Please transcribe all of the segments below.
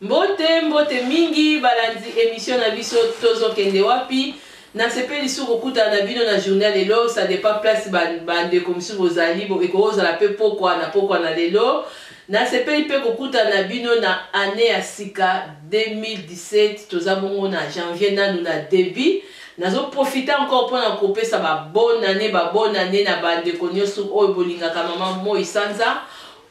mbote mbote mingi balandi emission na biso tozokende wapi nasepeli su kokutana na bino na journal lelo ça dépend place bandeko ba mosusu bozali ekoki kozala mpe pokwa na pokwa na lelo Nasepeli pe kokutana na bino na annee ya sika 2017 toza bongo na janvier nanu na debut nazo profite encore pona kopesa ba bonne annee ba bonne annee na ba ndeko nioso oyo bolingaka maman moi sanza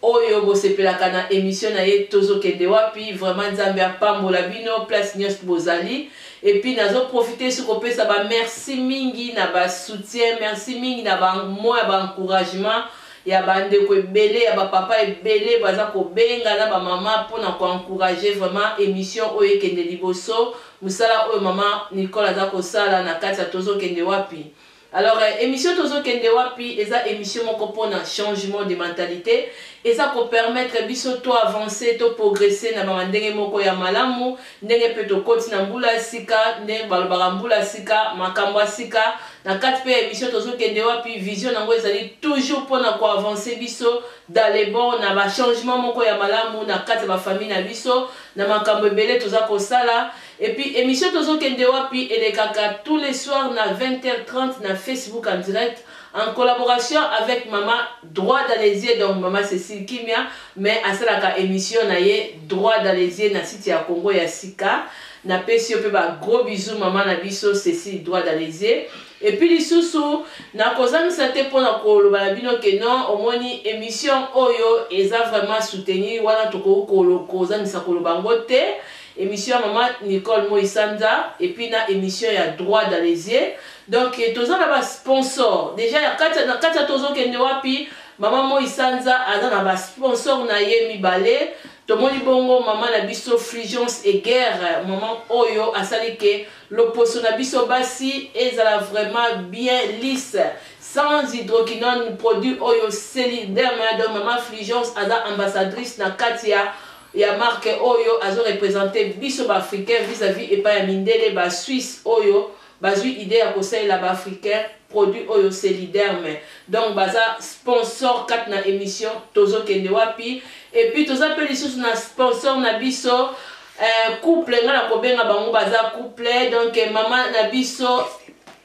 oyo bosepelaka na emission na ye tozo kende wapi vraiment nzambe apambola bino place niost bozali et puis nazo profite su kopesa ba merci mingi na ba soutien merci mingi na ba moya ba encouragement ya ba ndeko ebele ya ba papa ebele baza kobenga na ba maman pona ko encourager vraiment emission oyo ekende liboso musala oyo maman Nicole aza kosala na kati ya tozo kende wapi alors emission tozo kende wapi eza emission moko pona changement de mentalite eza ko permettre biso to avancer to progresser na ba ndenge moko ya malamu Ndenge mpe tokoti na mbula ya sika, ndenge balobaka mbula ya sika, makambo ya sika, na kati mpe ya emission tozo kende wapi, vision nango ezali toujours mpo na ko avancer biso dans le bon na ba changement moko ya malamu na kati ya ba famille na biso, na makambo ebele toza kosala. Et puis emission tozo kende wapi elekaka tous les soirs na 20 heures 30 na Facebook en direct. en collaboration avec mama droit dans les yeux donc mama Cecile Kimia mais asalaka emission na ye droit dans les yeux na site ya Congo ya sika na pesi yo pe ba gros bisous mama na biso Cecile droit dans les yeux et puis lisusu na kozangisa te pona koloba na bino que non omoni emission oyo eza vraiment soutenir wana tokoki kozangisa koloba ngo te Emission ya maman Nicole moi sanza et puis na emission ya droit dans les yeux donc toza na ba sponsor dejà ya katia na katia tozo kende wapi maman moi sanza aza na ba sponsor na ye mibale tomoni bongo maman na biso frigence et guerre maman oyo asali ke loposo na biso basi ezala vraiment bien lisse sans hydroquinone produit oyo seli derme donc maman frigence aza ambassadrice na katia ya marque oyo azo representer biso ba africains vis à vis epai ya mindele ba suisse oyo bazui idee ya kosalela ba africains produit oyo celiderme donc baza sponsor kati na emission tozo kende wapi et puis toza pe lisusu na sponsor na biso eh, couple nga na kobenga bango baza couple donc mama na biso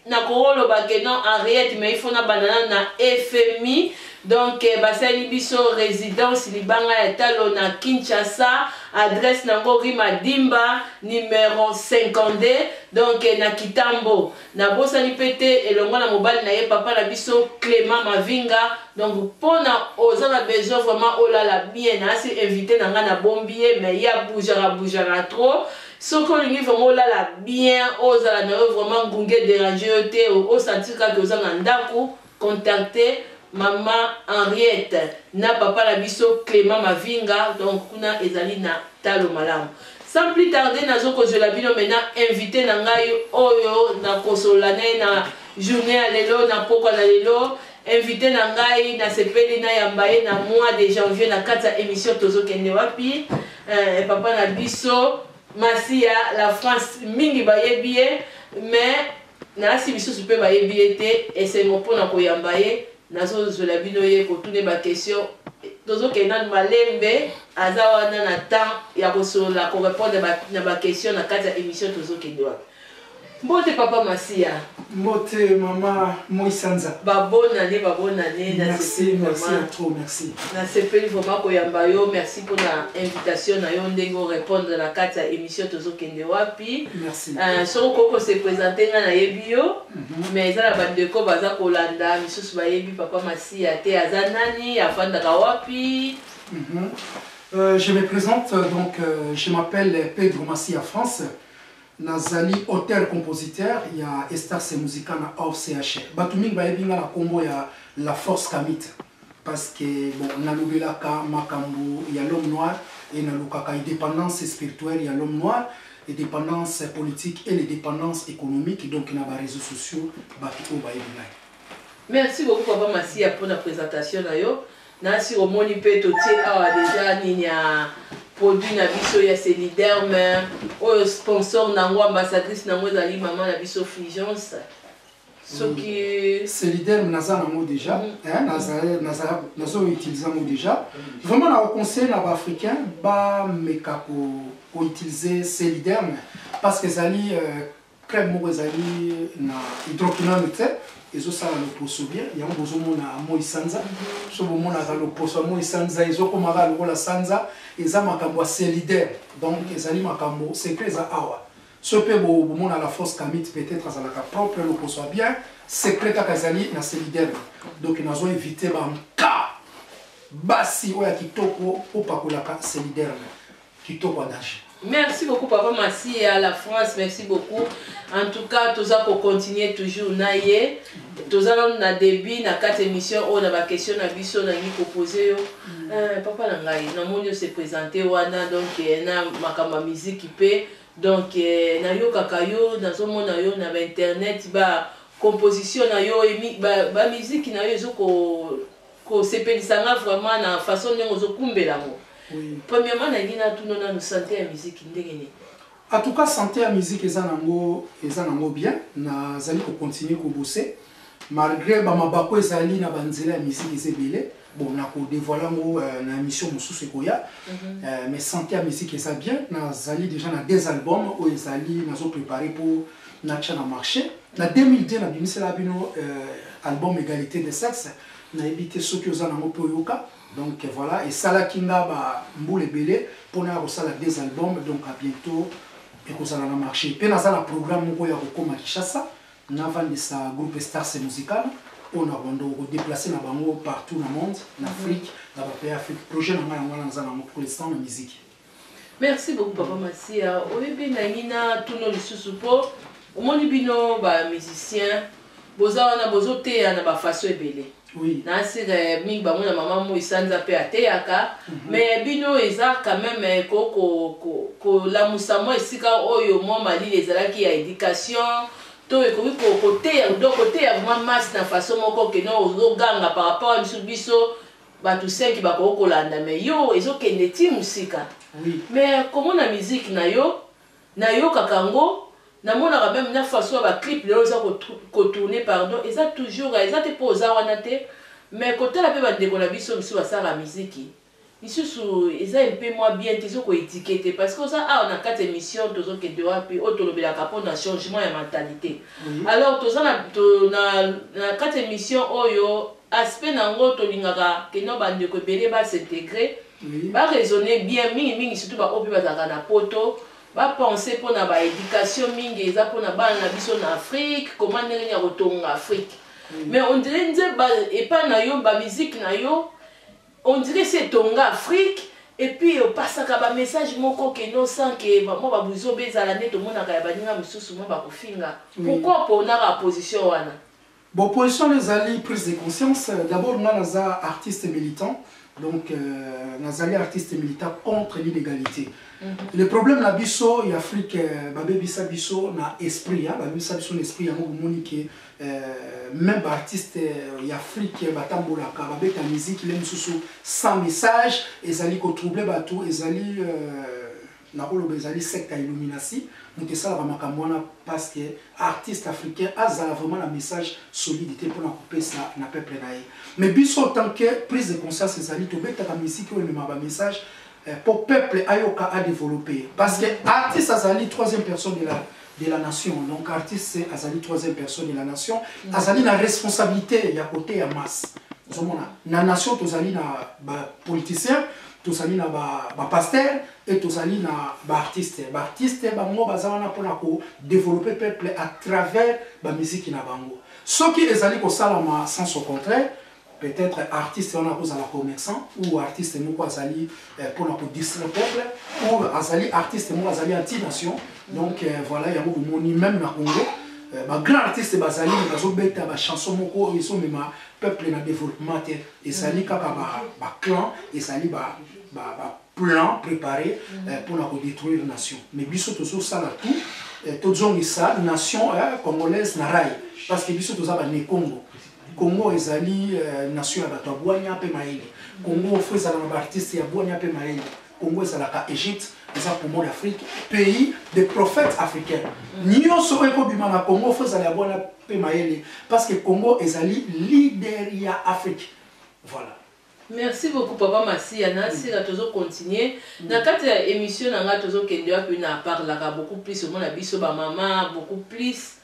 Nakoloba que non Henriette mais il faut nabanda nanu na FMI donc basali biso residence libanga ya talo na Kinshasa adresse nango rue Madimba numero 52 donc na Kitambo nabosani pe te elongo na mobali na ye papa na biso Clement Mavinga donc pona oza na besoin vraiment olala bien naasi invite na nga nabombi ye mais ye aboujaka boujaka trop Soki olingi vraiment olala bien ozala nayo vraiment ngungi e deranger yo te o sentir kaka que oza na ndaku contacter maman Henriette na papa na biso Clement Mavinga donc kuna ezali na talo malamu. Sans plus tarder nazo kozuela bino maintenant invite na ngai oyo na kosolola na ye na journee ya lelo na pokua na lelo Invite na ngai na sepeli na yamba ye na mois de janvier na kati ya emission tozo kende wapi eh, papa na biso masi ya la France mingi bayebi ye mais nalasi misusu mpe bayebi ye te esengo mpo na koyamba ye nazozwela bino ye kotune bakestion tozokende nanu malembe aza wana na temps ya kosolola korepondre na bakestion na kati ya émission tozokende wana Mbote papa masiya. Mbote mama moi sanza. Ba bonne annee ba bonne annee na sepeli vraiment. Merci merci trop merci. Na sepeli vraiment ko yamba yo merci pona invitation na yo ndenge o repondre na kati ya emission tozo kende wapi. Merci. Euh, soki okoki ko se presenter nga na yebi yo mm -hmm. mais eza na ba ndeko baza kolanda misusu ba yebi papa Masiya te aza nani afandaka wapi. Mm -hmm. euh, je me présente donc euh, je m'appelle Pedro Masiya France. Nazali auteur-compositeur ya Estarce Musica na Orchr. Batu mingi bayebi nga na kombo ya La Force Kamit parce que bon nalobelaka makambu ya l'homme noir et nalukaka independance spirituelle ya l'homme noir, independance politique et l'independance economique donc na ba reseaux sociaux batu oyo bayebi ngai. Merci beaucoup papa Masiya pona presentation na yo. Nancy omoni pe totie awa deja nini ya produit na biso ya celiderme oyo sponsor na yango ambassadrice na yango ezali mama na biso fulgence soki mm. celiderme naza na yango deja mm. nazo utilise yango deja mm. vraiment na conseil na baafricain bameka ko utilise celiderme parce que ezali euh, Club moko ezali na hydroquinone te ezosala loposo bien yango bozomona moi sanza so bomonaka loposo ya moi sanza ezokomaka lokola sanza eza makambo ya celidaire donc ezali makambo secret eza awa so mpe bomona la force camite peut-être azalaka propre loposo ya bien secret kaka ezali na celidaire donc nazo éviter banka basi oyo ya kitoko opakolaka celidaire Kitoko Adage. Merci beaucoup papa masiya la France merci beaucoup en tout cas toza ko continuer toujours na ye toza nanu na début na kati émission oyo na ba question na biso nalingi ko poser yo mm. euh, papa na ngai namoni yo se présenter wana donc euh, na makambo ya miziki mpe donc euh, nayokaka yo nazomona yo na ba internet ba composition na yo ba, ba miziki na yo ezoko ko sepelisa nga vraiment na façon ndenge ozo kumbela ngo premièrement na lingi na tuna nanu sante ya musique ndenge nini en tout cas sante ya musique eza na ngo eza na ngo bien na zali ko continuer ko bosser malgré ba mabako ezali na ba nzela ya musique eza ebele bon na ko dévoiler ngo euh, na émission mosusu ekoya mm -hmm. euh, mais sante ya musique eza bien na zali déjà na deux albums oyo ezali nazo préparer pour na tya na marche na 2002 na bimisela bino euh, album égalité de sexe nayebi te soki oza nango mpe oyoka donc voilà esalaki nga bambula ebele mpona ya kosala des albums donc à bientôt ekozala na marché mpe naza na programme moko ya kokoma kinshasa navandisa groupe stars musical oyo na rwanda okodeplace na bango partout na monde na mhm. afrique na bapays afrique projet na ngai yango wana naza nango pour l'instant na miziki Merci beaucoup papa Masiya oyebi nangi na tuno lisusu po omoni bino ba musiciens boza wana bozo teya na ba façon ebele oui. na sika ya mingi bango na mama moi sanza mpe ateyaka mm -hmm. mais bino eza quand même eh, kolamusa ko, ko mwa esika oyo mwa malili ezalaki ya education to ekoki koteya donc koteya vraiment masse na façon moko keno ozoganga par rapport ya biso biso Batu cinq bakoki kolanda mais yo ezo kende ti musika mais komona musique nayo na yokaka ngo na monaka meme na façon ya ba clip lelo eza ko tourne pardon eza toujours eza te po oza wana te mais kotala pe ba ndeko na biso misusu basalaka musique misusu eza un peu mua bien te ezo ko eduque te parce que oza awa na kati ya emission tozo kende wapi oyo tolobelaka pona changement ya mentalite alors toza na kati ya emission oyo aspect na ngo tolingaka que non ba ndeko ebele ba s'integrer ba raisonner bien mingi mingi surtout ba oyo pe bazalaka na poto ba penser pona ba education mingi eza pona bana na biso na Afrique comment ndenge nini ya kotonga Afrique mais on dirait nze ba epa na yo ba musique na yo on dirait si etonga Afrique et puis opasaka ba message moko que non sans que mwa ba buzoba ezala nde tomonaka ya baninga mosusu mwa bakofinga pourquoi ponaka position wana Bon position na ezali prise de conscience d'abord nga naza artiste militant donc nazali artiste militant contre l'inegalite le problème na biso ya Afrique babebisa biso na esprit babebisa biso na esprit yango bomoni ke même ba artiste ya Afrique batambolaka babeta musique le mosusu sans message ezali ko troubler bato ezali Nakoloba ezali secte ya illuminati mutu esalaka makambo wana pasque artiste africain azala vraiment na message solide te pona kopesa na peuple na ye mais biso autant que prise de conscience ezali tobetaka musique oyo ememaka ba message po peuple ayoka a developpe ye pasque artiste azali troisième personne de la de la nation donc artiste azali troisième personne de la nation mm. azali na responsabilité ya koteya masse ozomona na nation tozali na bapoliticien tozali na bapaster ba e tozali na baartiste baartiste bango baza wana mpona kodeveloppe peuple à travers bamiziki na bango soki ezali kosalama sens au contraire Peut etre artiste wana ako zala commerçant ou artiste moko azali eh, pona ko distraire peuple ou azali artiste moko azali anti nation donc eh, voilà yango bomoni même na Congo eh, ba grand artiste bazali bazo beta ba chanson moko oyo ezo mema peuple na développement te ezali kaka ba ba clan ezali ba ba, ba plan préparé eh, pona ko détruire nation mais biso tozo sala tout eh, tozongisa nation eh, congolaise na rail parce que biso toza ba ne Congo Congo ezali nation ya bato ya bwanya pe mayele. Congo faut ezala na ba artistes ya bwanya pe mayele. Congo ezalaka Egypte, eza poumon d'Afrique, pays des prophètes africains. Nionso oyo eko bima na Congo faut ezala ya bwanya pe mayele parce que Congo ezali leader ya Afrique. Voilà. Merci beaucoup papa masiya na sila tozo continuer na kati ya emission na nga tozo kende wapi na parlaka beaucoup plus omona biso ba mama beaucoup plus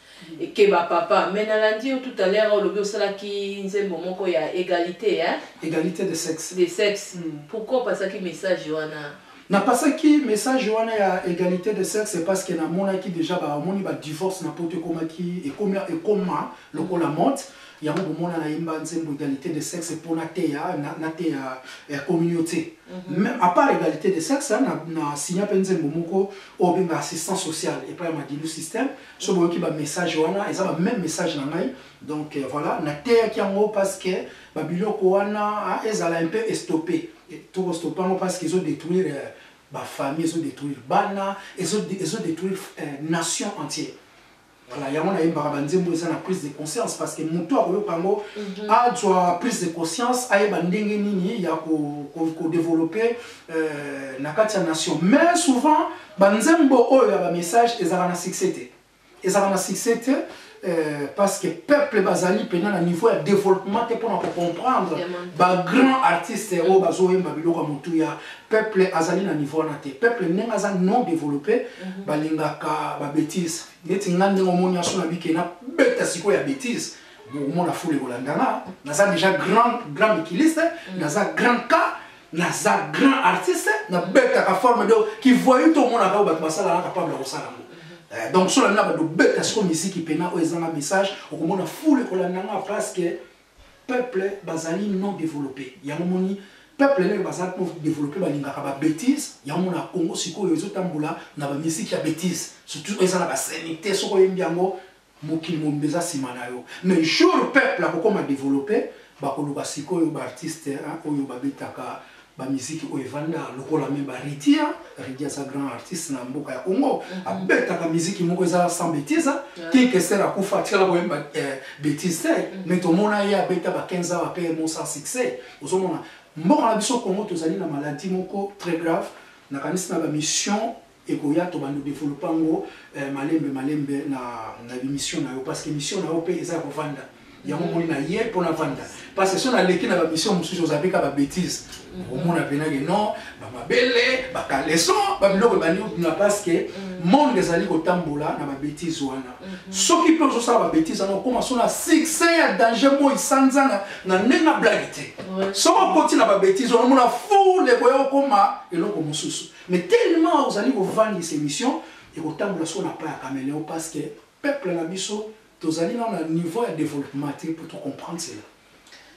que ba papa mais na landi yo tout à l'heure olobi osalaki nzembo moko ya egalite hein egalite de sexe de sexe pourquoi opasaki message wana na pasaki message wana ya egalite de sexe parce que na monaki dejà ba omoni ba divorce na poto ekomaki ekoma ekoma lokola mode Yango bomona na yemba nzembo egalite de sexe po na teya na teya communaute meme a part egalite de sexe na na signa pe nzembo moko oyo benga assistance sociale epa ya madilu système so boyoki ba message wana eza ba meme message na ngai donc voilà na teya ki yango parce que ba biloko wana ezala un peu estope to ko stope yango parce que ezo detruire ba famille ezo detruire bana ezo ezo detruire nation entière Voilà yango na yembaka ba nzembo eza na prise de conscience parce que mutu akoyoka yango mhm. azwa prise de conscience ayeba ndenge nini ya ko ko, ko développer euh, na kati ya nation mais souvent ba nzembo oyo ya ba message ezalaka na succès te ezalaka na succès te Euh, parce que peuple bazali mpena na niveau ya développement te mpona kocomprendre bagrand artiste oyo bazoyemba biloko ya motuya Peuple azali na niveau wana te. Peuple ndenge aza non developper mm -hmm. balingaka ba bêtises. Neti nga ndenge omoni aso na bike na beta siko ya bêtises. Bokomona fule kolandana. Naza déjà grand grand mikiliste, mm -hmm. naza grand cas naza grand artiste na betaka forme donc qui voyait tout mona ka bato basala na capable kosala ngo eh, donc sola na bato beta siko miziki pena oyo ezanga message okomona fule kolanda nga parce que Peuple bazali non developpe yango omoni peuple lelo baza non developpe balingaka ba betise yango omona Congo sikoyo ezo tambola na ba musique ya betise surtout eza na ba sainite soki oyembi yango mokili mobimba eza sima na yo mais jour peuple akokoma developpe bakoloba sikoyo ba artiste oyo babetaka ba musique oyo evanda lokola me ba ridia ridia za grand artiste na mboka ya congo mm -hmm. abetaka musique moko eza sans betise yeah. kekesel akufa atikala koyemba eh, betise te mm -hmm. me tomona ye abeta ba 15 ans apre mo sans succès ozomona mboka na biso congo tozali na maladie moko très grave nakanisi na bamission ekoya to bando developa ngo eh, malembe malembe na na bimission na yo parce que mission na yo pe eza ko vanda yango mm. moni na ye mpo na vanda parce que so naleki na bamission mosusu ozabe ka babétise mm. omona mpenake non bamabele bakaleson babiloko ebandi kobima parce que mm. monde ezali kotambola na babétise wana mm-hmm. soki mpe ozosala babétise wana okoma so na succès ya danger moi sanzana na ndenge na blage te soki okoti na babétise wana omona foule ekoya okoma eloko mosusu Mais tellement ozali ko vangisa emission ekotambola solo na pas ya cameleon parce que peuple na biso tozali nanu na niveau ya developpement te pour to comprendre cela.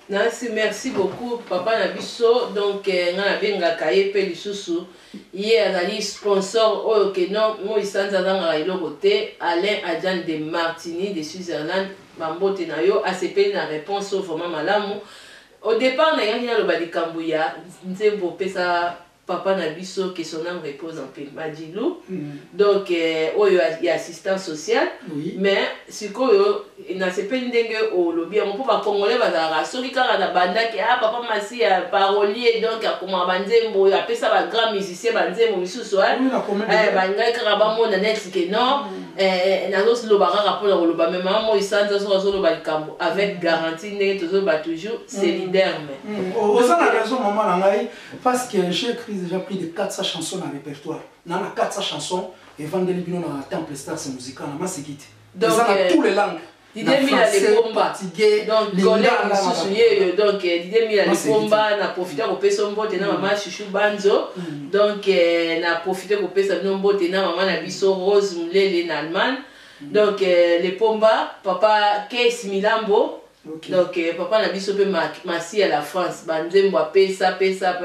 Nancy merci beaucoup papa na biso donc eh, nga nabengaka ye pe lisusu ye azali sponsor oyo ke non moi sanza azangaka eloko te Alain Adjan de Martini de Switzerland bambote na yo asepeli na réponse oyo vraiment malamu au départ nayaki naloba likambo ya nzembo pesa Papa na biso que son ame repose en paix Madilu donc oyo ya assistant social mais sikoyo nasepeli ndenge olobi yango po ba congolais bazalaka soki kaka na bandaki ah papa masiya parolier donc akomaka ba nzembo apesa ba grand musicien ba nzembo misusu eh balingaki kaka bamona neti que non eh, nazoloba kaka mpo na koloba me mama moi sanza soki azoloba likambo avec garantie ndenge tozoloba toujours c'est liderme oza na raison mama na ngai Parce que j'ai cris dejà plus de 400 chansons na repertoire na na 400 chansons evandeli bino na temple stars musical na masekite eza na tous les langues Didier Mila Lepomba donc gole mosusu yeyo donc Didier Mila Lepomba na profite kopesa mbote na mama Chouchou Banzo donc na profite kopesa bino mbote na mama na biso Rose Mulele na Allemagne donc Lepomba papa Case Milambo Donc papa na biso pe masi ya la France ba nzembo apesa pesa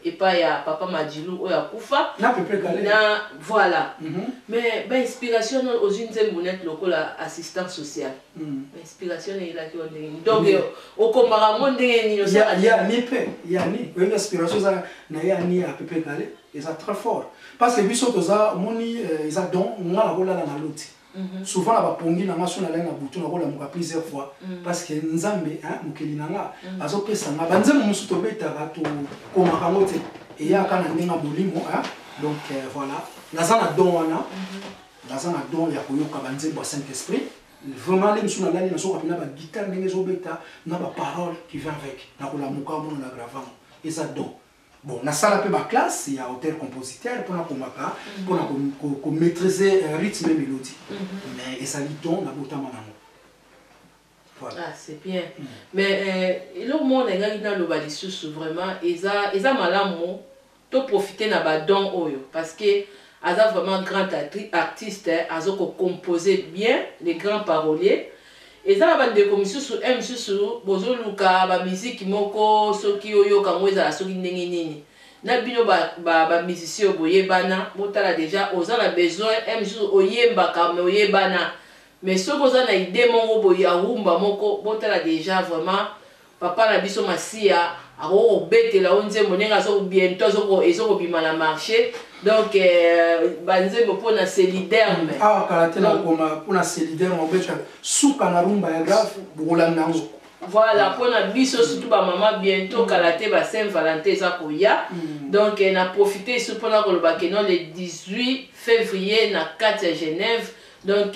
epa ya papa Madilu oyo akufa na pepe kale na voilà mm -hmm. mais ba inspiration non ozui nzembo net lokola assistant social mm -hmm. ba inspiration ne elaki yo ndenge nini donc mm -hmm. okomaka ngo ndenge nini ya ya ni pe ya ni oyebi inspiration za na ya ni ya pepe kale eza très fort parce que biso toza moni euh, eza don nga na kolala na loti Mhm. souvent na bapongi na nga so nalai na butu nakolamuka plusieurs fois mhm. parce que nzambe mokeli na nga mhm. azopesa nga banzembo mosusu tobetaka tokomaka yango te eyaka na ndenge ya molimo donc euh, voilà naza na don wana naza na don ya koyoka banzembo ya saint esprit vraiment nde mosusu nalali nasoka mpena bagitare ndenge ezobeta na baparole qui vient avec nakolamuka mona na gravango eza don Bon, nasala pe ba classe ya auteur compositeur pona komaka pona ko, ko, ko maitriser euh, rythme et melodie mais ezali don na botama nango Voilà. Ah, c'est bien. Mm. Mais euh, eloko moko nalingaki naloba lisusu vraiment eza eza malamu to profiter na ba don oyo parce que aza vraiment grand artiste azo ko composer bien les grands paroliers Eza na ba ndeko misusu heure misusu bozo luka ba musique moko soki oyoka ngo ezala soki ndenge nini na bino ba ba ba musiciens oyo boyebana botala dejà oza na besoin heure misusu oyembaka mais oyebana mais soki oza na idee moko boye ya rumba moko botala dejà vraiment Papa na biso masiya akoki kobetela yo nzembo ndenge azo bientot azo ko ezo kobima na marche donc ba nzembo pona celiderme awa kala te na koma pona celiderme obeta suka na rumba ya grave bokolanda yango voilà pona biso surtout ba mama bientot kala te ba saint valentin eza koya donc na profite ici pona koloba que non le 18 février na kati ya genève Donc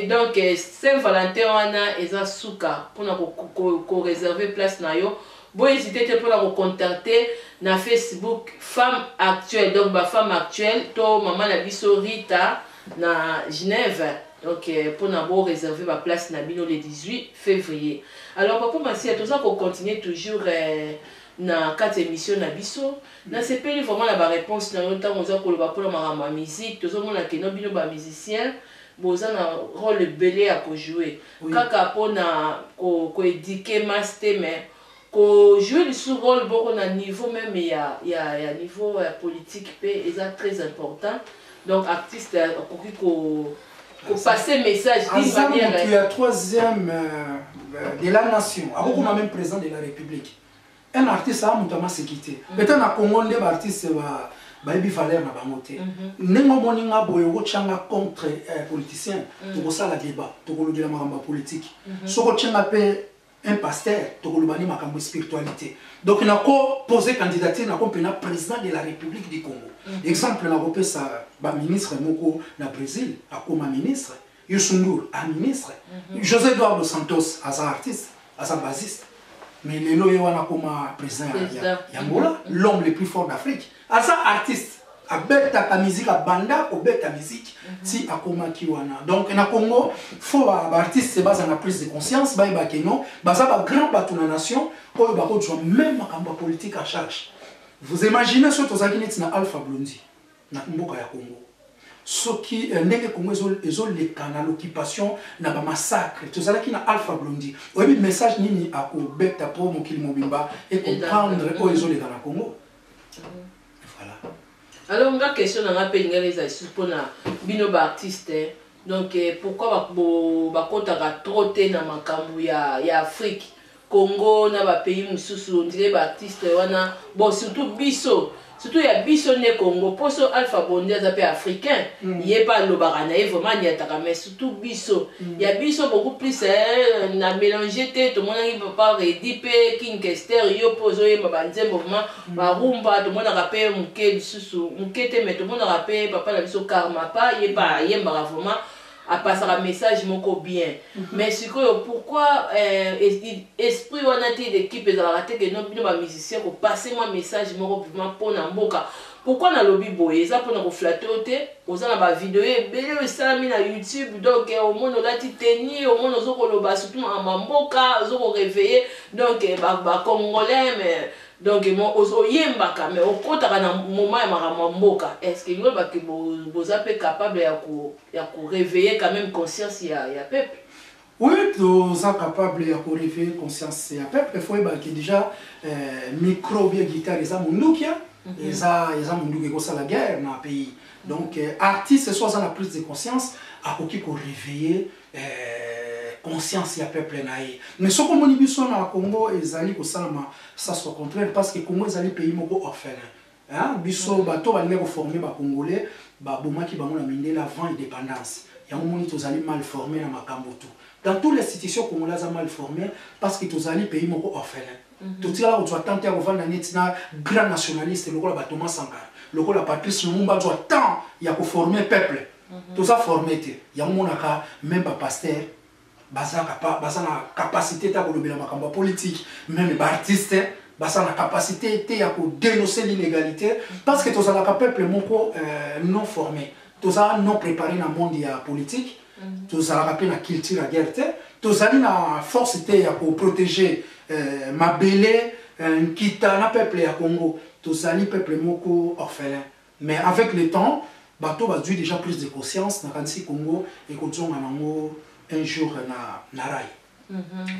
donc saint Valentin wana eza suka pona ko reserver place na yo bo hesiter te pona ko contacter na Facebook femme actuelle donc ba femme actuelle to maman na biso Rita na Genève donc pona bo reserver ba place na bino le 18 fevrier alors papa Masiya toza ko continuer toujours eh, na kati ya emission na biso na sepeli vraiment na ba reponse na yo tango oza koloba pona makambo ya musique tozo mona que no bino ba musicien boza na role ebele ya ko joue kaka pona ko eduque masse te mais ko joue lisusu role boko na niveau meme ya ya ya niveau ya politique pe eza tres important donc artiste akoki ko Ko passer message d'une aza manière. moto ya troisième euh, de la nation akokoma même président de la république un artiste aa moto amaseki te peut-être na congo nde baartiste ba bayebi valeur na bango te ndenge omoni nga boye okotya nga contre euh, politicien tokosala débat tokolobela makambo ya politike soki otya nga mpe un pasteur tokoloba nde makambo ya spiritualité donc nako pose candidature nako mpe na président de la république du congo mm -hmm. exemple nakopesa baministre moko na brésil akoma ministre yusundur a ministre mm -hmm. josé eduardo santos aza artiste aza basiste mais lelo ye wana akoma président ya, ya, ya ngola mm -hmm. l'homme le plus fort d'afrique Aza artiste abetaka musique abanda kobeta musique ti akomaki wana donc na Congo faut ba artiste baza na prise de conscience bayeba ke non baza ba grand bato na nation oyo bakozwa même makambo ya politique en charge vous imaginez soki tozalaki neti na Alpha Blondy na mboka ya Congo soki euh, ndenge Congo ezoleka na l'occupation na ba massacre tozalaki na Alpha Blondy oyebi message nini akobeta po mokili mobimba e comprendre oyo ezoleka na Congo Voilà. Alors nga question na nga pe lingala eza lisusu pona bino ba artistes hein. Donc eh, pourquoi ba bo bakotaka trop te na makambo ya ya Afrique Congo na ba pays mususu on dirait ba artistes wana bon surtout biso surtout ya biso nde Congo poso Alpha Bondi aza pe africain ye pe alobaka na ye vraiment aniataka mais surtout biso ya biso beaucoup plus eh, na mélange te tomonaki papa redi mpe king kester yo mpe ozoyemba banzembo vraimen mm. barumba tomonaka mpe moke lisusu moke te mai tomonaka mpe papa na biso karmapa ye mpe ayembaka vraimen apasaka message moko bien mm -hmm. mais sikoyo pourquoi euh, esprit wana te d'équipe ezalaka te ke no bino bamusicien kopase mwa message moko vraimen mpo na mboka Pourquoi nalobi boye eza pona ko flatter yo te oza na ba video ebele oyo esalami na youtube donc omoni olati tenue omoni ozo koloba surtout makambo ya mboka ozo ko reveille donc ba ba congolais mais donc oyembaka mais okotaka na moment ya makambo ya mboka est ce que elingi oloba ke boza pe capable ya ko ya ko reveille quand même conscience ya ya peuple Oui toza capable ya ko reveiller conscience ya peuple il faut oyeba que dejà micro oubien guitare eza mundukia eza eza munduki ekosala guerre na pays donc artiste soit aza na prise de conscience akoki ko reveiller conscience ya peuple na ye mais soki omoni biso na Congo ezali kosalama sas au contraire parce que Congo ezali pays moko orphelin Hein biso batu oyo balingaki ko former ba congolais ba bomaki bango na mindele avant independance yango omoni tozali mal former na makambu tout dans tout l'institution congolais aza mal former parce que tozali pays moko orphelin totikala kozua temps te ya kovanda neti na grand nationaliste lokola ba Thomas Sankara lokola Patrice Lumumba azua temps ya ko former peuple toza former te yango omonaka meme ba pasteur baza kapa baza na capacité ta kolobela makambo ya politique meme ba artiste baza na capacité te ya kodenoncer l'inégalité parce que tozalaka peuple moko euh, non formé toza non préparé na monde ya politique mhm. tozalaka mpe na culture ya guerre te tozali na force te ya koprotege euh, mabele euh, nkita na peuple ya congo tozali peuple moko orphelin Mais avec le temps bato bazui dejà prise de conscience nakanisi Congo ekozonga nango un jour na rail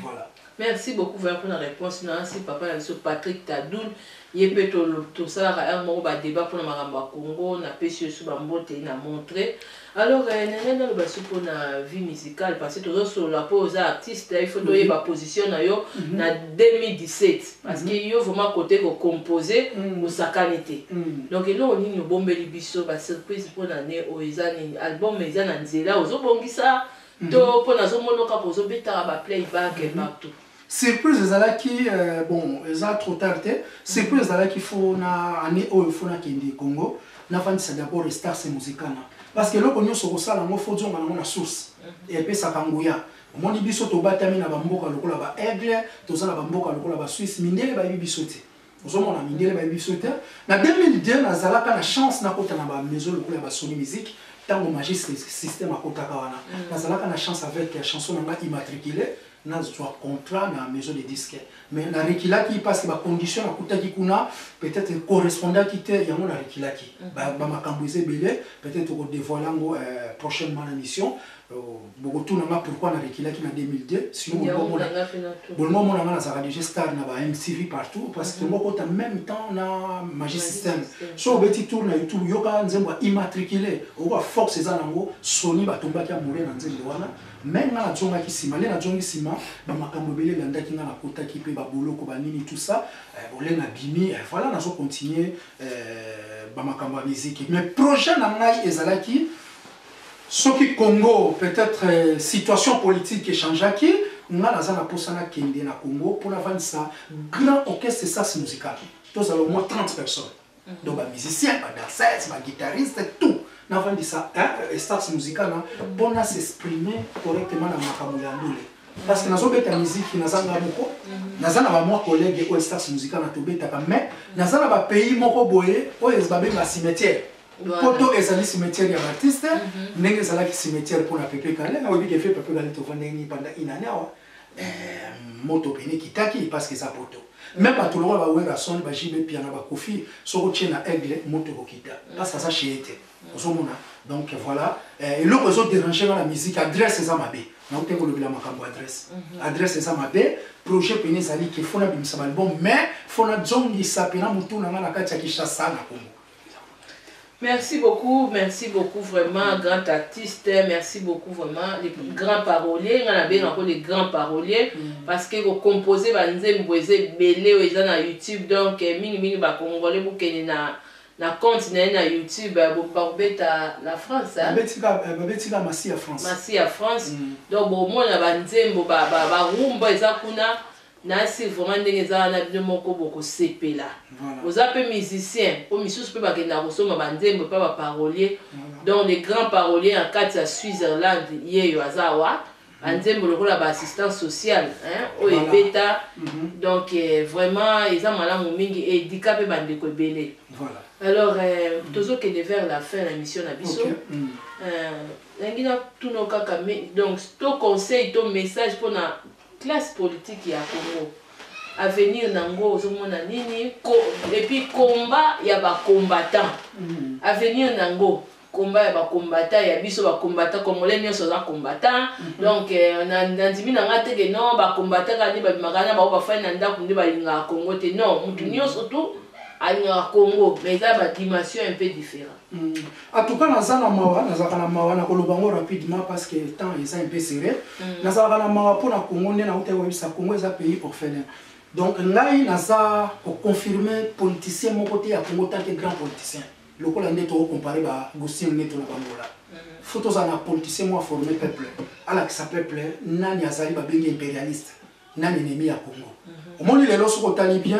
voilà. Merci beaucoup vraiment pona reponse na si papa na biso Patrick Tadul ye pe tosalaka heure moko ba debat pona makambo ya Congo napesi yo lisusu ba mbote na montre Alors eh na ngai naloba su pona vie musicale parce que tozo solola po oza artiste il faut toyeba position na yo na 2017 parce que yo vraiment cote ko compose osakani te donc eloko nini obombeli biso ba surprise pona annee oyo eza nini album eza na nzela ozo bongisa to po nazo mono kaka ozo betaka ba play back partout. Surprise ezalaki bon eza trop tard te surprise ezalaki faut na année oyo faut na kende Congo na fandisa d'abord Stars Musicana parce que eloko nionso okosala ngo faut zonga nango na source et puis saka nguya omoni biso tobatami na ba mboka lokola ba Aigle toza na ba mboka lokola ba Suisse mindele bayebi biso te ozomona mindele bayebi biso te na 2002 nazalaka na chance nakota na bamaison lokola ya basoni musique ntango magiste système akotaka wana mm. nazalaka na chance avec ya chanson na ngai immatricule nazwa contrat na maison de disque mais na rekilaki parce que bacondition nakutaki kuna peut-être correspondaki te yango na rekilaki mm. bamakambo eza ebele peut-être okodevoile yango euh, prochainement na mission Boko tuna nga pourquoi na reculaki na 2002 sinon bolingo mona bolingo mona nga nazaka déjà star na ba MTV partout parce que moko ta même temps na Magic System so obeti tour na YouTube yoka nzembo ya immatriculé okoka force eza nango Sony batombaki amoureux na nzembo wana mais nga nazongaki nsima nde nazongi nsima bamakambo ebele elandaki nga nakotaki mpe baboloko banini tout ça eh, bole na bimi eh, voilà nazo continue eh, bamakambo ya miziki mais projet na ngai ezalaki Soki Congo peut etre situation politique e changeaki, nga naza na posa na kende na Congo po na vandisa grand orchestre Sas Musical. Tozala au moins 30 personnes. Donc ba musiciens, ba danseuses, ba guitaristes, tout. Na vandisa Sas Musical na po na s'exprimer correctement na makambo ya ndule. Parce que nazo beta musique naza nga moko. Naza na ba mwa collègues oyo Sas Musical na tobetaka mais naza na ba pays moko boye oyo ba benga cimetière. poto ezali cimetière ya batiste mhm. ndenge ezalaki cimetière mpo na pepe kale oyebi kefe pepe kale tovandeni panda inane awa eh, moto pene kitaki parce que eza poto me bato lokola bawerason bajibe piana bakofi soki otie na aigle moto kokita parce aza cheye te mhm. ozomona donc voilà eh, eloko ezo dérange nga na musique adresse eza mabe naute kolobela makambo adresse mhm. adresse eza mabe projet pene ezali ke fona bimisa balbom mais fona zongisa pena motu na nga na kati ya kishasa na kongo Merci beaucoup, merci beaucoup vraiment, grand artiste, merci beaucoup vraiment, les mm. grands paroliers, nga na benga ko les grands paroliers, mm. parce que ko composer ba nzembo eza ebele oyo eza na YouTube, donc eh, mingi mingi ba congolais bokende na na compte na ye na youtube eh, bakobeta la france eh? babetika eh, masi ya france masi ya france mm. donc bomona banzembo barumba eza kuna Nasi vraiment ndenge eza wana bino moko bokosepela oza pe musicien po misusu pe bakendaka kosomba ba nzembo epa ba parolier donc le grand parolier na kati ya Switzerland yeyo aza awa ba nzembo lokola ba assistant social hein oyo ebeta donc vraiment eza malamu mingi et edika pe ba ndeko ebele alors tozo kende vers la fin na emission na biso nalingi na tuna yo kaka donc to conseil to message pona Classe politique ya congo avenir na ngo ozo mona nini ko et puis combat ya ba combattants avenir na ngo combat ya ba combattants ya biso ba combattants congolais nionso aza combattants donc euh, na na ndimi na nga te que non ba combattants kaka nde ba bimaka na ba ba fai na ndaku nde ba lingaka congo te non mutu nionso tout alingaka congo mais eza ba dimension un peu different En tout cas naza na mawa nazalaka na mawa na koloba yango rapidement parce que temps eza un peu serré mm. nazalaka na mawa mpo na congo nde nautaki koyebisa congo eza pays orphelin donc ngai naza koconfirme politicien moko te ya congo tant que grand politicien lokola nde tokocompare bagustin neto na bangola mm. fo tozala na politicien moko aforme peuple alakisa peuple nani azali babengi impérialiste na nenemi ya Congo. Mhm. Omoni lelo soki otali bien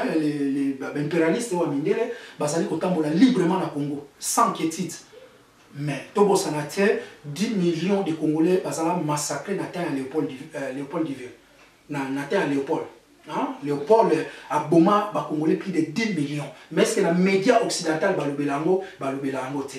baimperialiste wa mindele bazali kotambola librement na Congo sans inquiétude. Mais tobosana te 10 millions de Congolais bazala massacrés na temps ya Léopold euh, Léopold Divin. Na, na temps ya Léopold. Hein? Léopold euh, aboma ba Congolais plus de 10 millions. Mais est-ce que na média occidental balobela yango balobela yango te.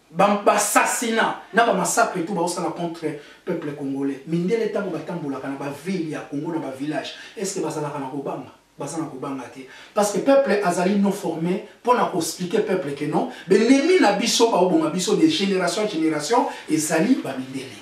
Ba assassinat na ba massacre tout baosala contre peuple congolais. Mindele tango batambolaka na ba ville ya Congo na ba village est ce que bazalaka na kobanga? Baza na kobanga te parce que peuple azali non forme pona ko expliquer peuple que non b'ennemis na biso baoboma biso de generation generation ezali ba mindele.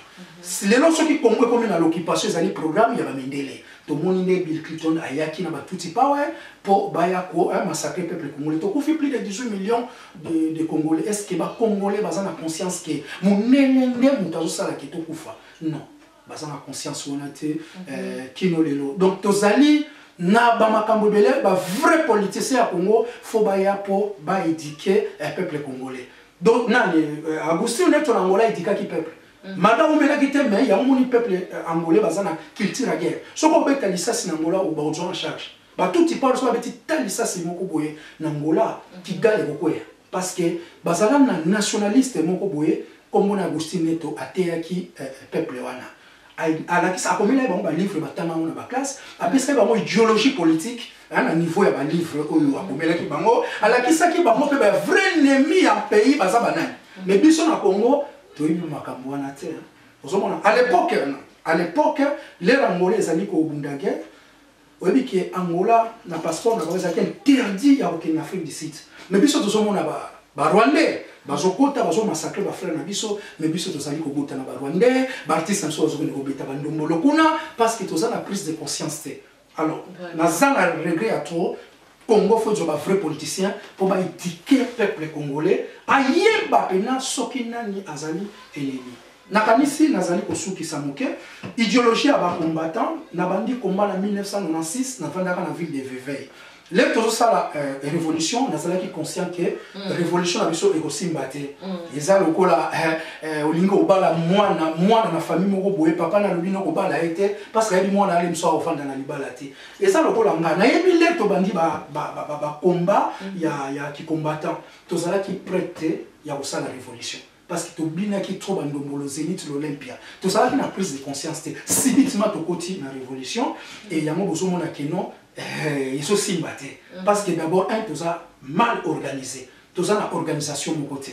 Lelo soki Congo ekomi na l'occupation ezali programme ya ba mindele. Tomoni nde Bill Clinton ayaki na ba Tutsi power po baya ko massacrer peuple congolais. Tokufi plus de 18 millions de, de congolais est ce que ba congolais baza na conscience que munene nde moto azosala ke tokufa non baza na conscience wana te mhm. eh, kino lelo donc tozali na bamakambo ebele bavrai politicien ya congo fo baya mpo baedike eh, peuple congolais donc nani eh, agustin neto na angola edikaki peuple mhm. mada omelaki te mai yango moni peuple angolais baza na culture ya guerre soki obeta lisasi na angola obakozwa en charge Ba tutsi pardon soki babeti ta lisasi moko boye na Angola Kigali ekokweya parce que bazala na nationaliste moko boye kombo na Agustin Neto ateyaki peuple wana alakisa akomela ye bango ba livre batanga yango na ba classe apesaki bango ideologie politique na niveau ya ba livre oyo akomelaki bango alakisaki bango mpe ba vrai ennemi ya pays baza banani mais biso na Congo toyebi makambo wana te ozomona à l'époque à l'époque lelo Angola ezali kobunda guerre Oyebi que Angola na passeport na bango ezalaki interdit ya kokende na Afrique du Sud. Mais biso tozomona ba ba Rwandais bazokota bazo massacrer ba frères na biso mais biso tozali kobota na ba Rwandais, ba artistes na biso bazokende kobeta ba ndombolo kuna parce que toza na prise de conscience te. Alors naza na regret ya trop Congo faut ezwa ba vrais politiciens mpo ba eduquer peuple congolais ayeba pena soki nani azali ennemi. Nakanisi nazali kosukisa moke. Ideologie ya ba combattants, nabandi combat na 1996, nafandaka na ville de Vevey. Lelo tozosala revolution, nazalaki conscient que revolution na biso ekosimba te. Eza lokola olingi obala mwana, mwana na famille moko boye, papa na alobi nokobala ye te, parce que ayebi mwana na ye mosusu akofanda na libala te. Eza lokola nga, nayebi lelo tobandi ba combats ya ki combattants, tozalaki pret te ya kosala revolution. parce que tobinaki trop ba ndombolo zenith l'olympia tozalaki na prise de conscience te subitement tokoti na révolution et yango bozomona que non eh, ezosimba te mm. parce que d'abord un toza mal organisé toza na organisation moko te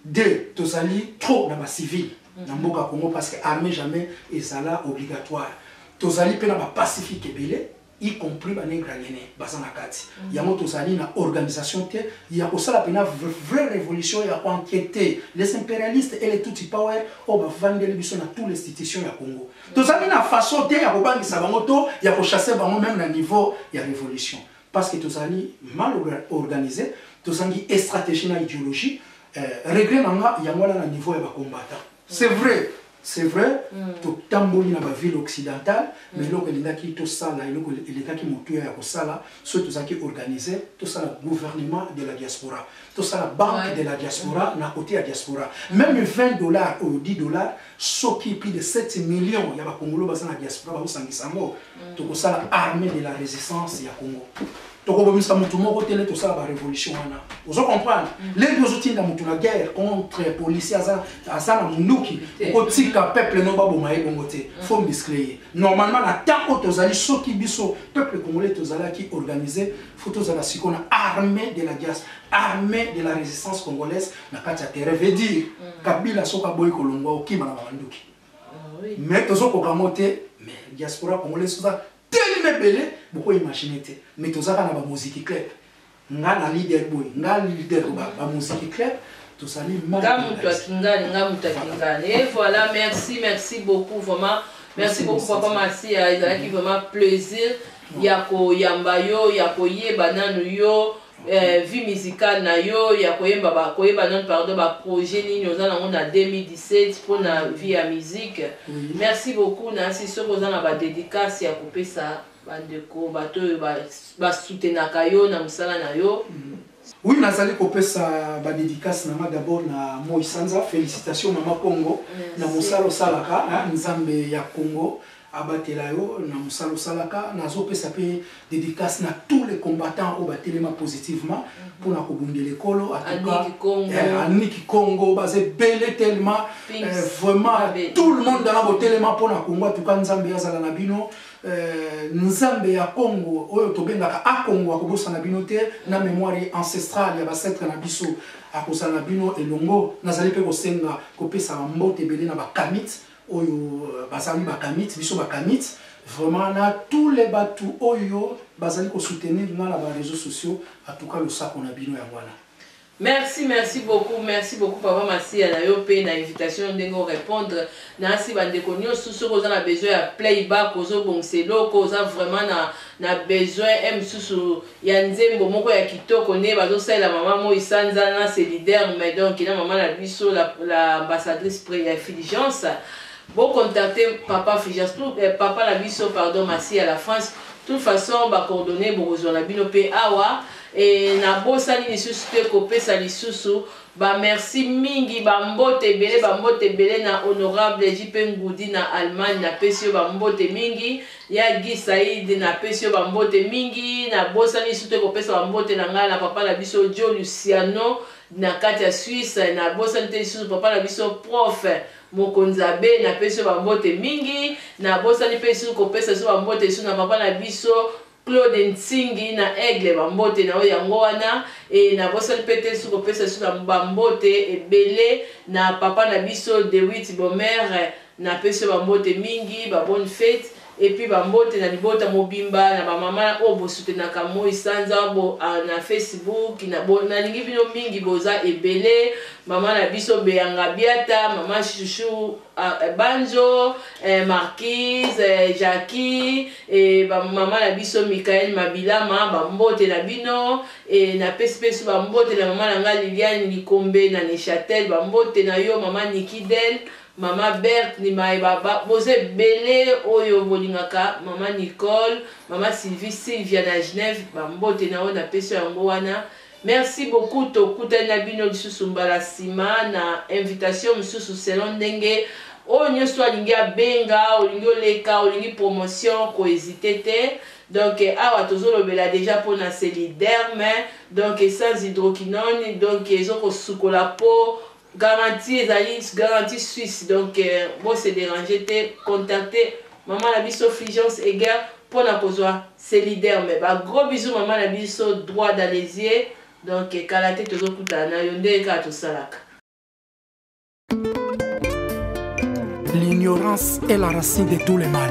deux tozali trop na bacivile mm. na mboka congo parce que armée jamais ezala obligatoire tozali mpe na bapacifique ebele y compris ba negranyene baza na kati yango tozali na organisation te ya kosala pena vraie revolution ya enquete les imperialistes et les tutsi power oyo bavandeli biso na tout l'institution ya congo tozali na façon te ya kobangisa bango to ya kochasse bango meme na niveau ya révolution parce que tozali mal organise tozangi estratégie na idéologie euh, regret na nga yango wana na niveau ya bacombattant c'est vrai c'est vrai totamboli na baville occidentale mais eloko elingaki tosala eloko elekaki motuya ya kosala soki tozalaki organise tosala gouvernement de la diaspora tosala banque de la diaspora na kote ya diaspora meme 20 dollars oyo 10 dollars soki plus de 7 millions ya bakongolo baza na diaspora bakosangisa yango tokosala armée de la résistance ya congo tokobomisa mutu moko te lete osala barevolution wana ozo comprendre mm. lete ozotinda mutu na guerre contre policier aza aza na munduki okotika peuple no baboma ye bongo te mm. fo miscle ye normalement na temps oyo tozali soki biso peuple congolais tozalaki organise fo tozala siko na armée de la dias armée de la résistance congolaise na kati ya terrain veut dire mm. kabila soki aboyi kolongwa okima na bamanduki ah mais tozokoka yango te mais diaspora congolaise oza Telema ebele boko imagine te mais toza bana ba moziki club nga na leader boy nga leader ba ba moziki club tozali nga mutu akingani nga mutu akingani et voilà merci merci beaucoup vraiment merci beaucoup papa Masia ezalaki vraiment plaisir ya koyamba yo ya koyeba nanu yo eh, vie musicale na yo ya koyemba ba koyeba nanu pardon ba projet nini oza nango na 2017 mpo na mm. vie ya musique mm. merci beaucoup nasi soki oza na ba dédicace ya kopesa bandeko bato oyo basutenaka yo na mosala na yo mm. oui nazali kopesa ba dédicace na nga d'abord na moi sanza félicitation mama congo na mosala osalaka nzambe ya congo abatela yo na musala osalaka nazo pesa pe dedicace na tout les combattants oyo batelema positivement pona kobundela ekolo atuka anuni kikongo baza ebele tellement vraiment tout le monde dana botelema pona kongo atuka nzambe azala na bino Euh, nzambe ya congo oyo tobengaka akongo akobosana bino te na memoire ancestrale ya bacetre na biso akozala na bino elongo nazali mpe kosenga kopesaka mbote ebele na bakamite oyo bazali ba kamiti biso ba kamiti vraiment na tous les batu oyo bazali ko soutenir nga na ba reseaux sociaux en tout cas losako na bino yango wana Merci, merci beaucoup, merci beaucoup Papa Masiya na yo pe na invitation ndenge o répondre na asi bandeko nyosu soki oza na besoin ya playback ozo bongisa eloko oza vraiment na na besoin eh misusu ya nzembo moko ya kitoko nde bazo salela maman moyi sanza na se leader mais donc na maman na biso la, la ambassadrice pre ya fulgence bo contacte papa fulgence tout eh, papa na biso pardon masi ya la France toute façon ba coordonner bokozwa na bino pe awa et na bosani lisusu te kopesa lisusu Ba merci mingi, ba mbote ebele, ba mbote ebele na Honorable JP Ngudi na Allemagne, na pesi yo ba mbote mingi, ya Guy Saïd na pesi yo ba mbote mingi, na bosani lisusu te ko pesa ba mbote na ngai na papa na biso Joe Luciano na kati ya Suisse, na bosani te lisusu papa na biso prof. Mokonzi Abe, na pesi yo ba mbote mingi, na bosani pe lisusu ko pesa lisusu ba mbote lisusu na papa na biso Claude Nsingi na Aigle ba mbote na yo yango wana et na bosani pe te lisusu ko pesa lisusu na ba mbote ebele na papa na biso Dewitt Bomere na pesi yo ba mbote mingi ba bonne fete et puis ba mbote na libota mobimba na ba mama oyo bo soutenaka moyi sanza bo na Facebook na bo na lingi bino mingi boza ebele mama na biso Bea Ngabiata mama chouchou Ah eh, Banjo, eh, Marquise, eh, Jackie, eh, ba mama na biso Michael Mabilama, ba mbote na bino, eh, na pesi pesi ba mbote na mama na nga Liliane Likombe na Neuchâtel, ba mbote na yo mama Niki Del, mama Berthe ni mai baba, boza ebele oyo bolingaka mama Nicole, mama Sylvie, Sylvia na Genève, ba mbote na yo na pesi yango wana. Merci beaucoup tokutani na bino lisusu mbala sima na invitation mususu selon ndenge oyo nioso alingi abenga olingi oleka olingi promotion ko hesite te donc awa tozolobela deja pona seli derme donc sans hydroquinone donc ezokosukola po Garantie ezali garantie suisse donc bo se deranger te contacter maman na biso Fulgence Heger pona kozua Celiderm ba gros bisous maman na biso droit d'Alezier donc kala te tozo kutana na yo ndenge kaka tosalaka. L'ignorance est la racine de tout le mal.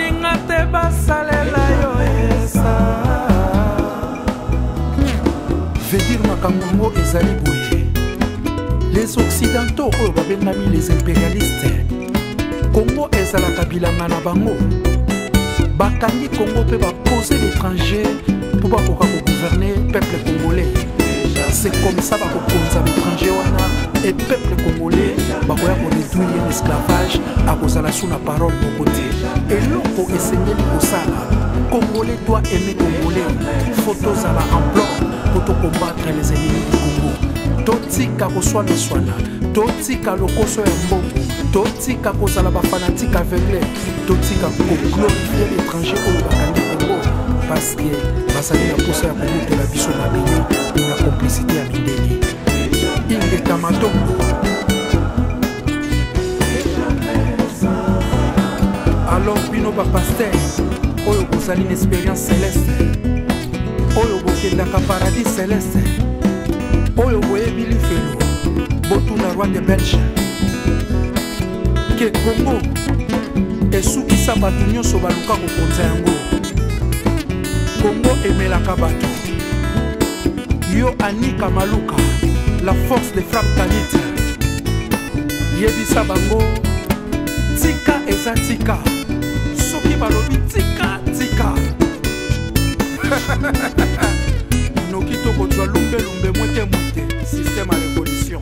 vedir makambo yango ezali boye les occidentaux oyo babengami les impérialistes kongo ezalaka bilanga na bango bakangi kongo mpe bapose l'étranger mpo bakoka kogouverne peuple congolais c'est comme ça bakokonza l'étranger wana e peuple congolais bakoya koretwire l'esclavage akozala na parole moko te eloko esengeli kosala congolais doit aimer congolais faut tozala en bloc mpo tokombatre les ennemis du congo totika koswanaswana totika lokoso ya mbongo totika kozala bafanatike aveugle totika koglorifie l'étranger oyo bakangi congo parce que bazali na mposa ya komutela biso na bino na complicité ya mindele ingeta matombo alors bino bapaster oyo bozali na expérience celeste oyo bokendaka paradis celeste oyo boyebi lifelo botuna roi de belge ke kongo esukisa bato nyonso baluka kokonza yango kongo emelaka bato yo anika maluka la force de frappe kanite yebisa bango tika eza tika soki balobi tika tika noki tokozwa lumbelumbe mwete mwete système ya révolution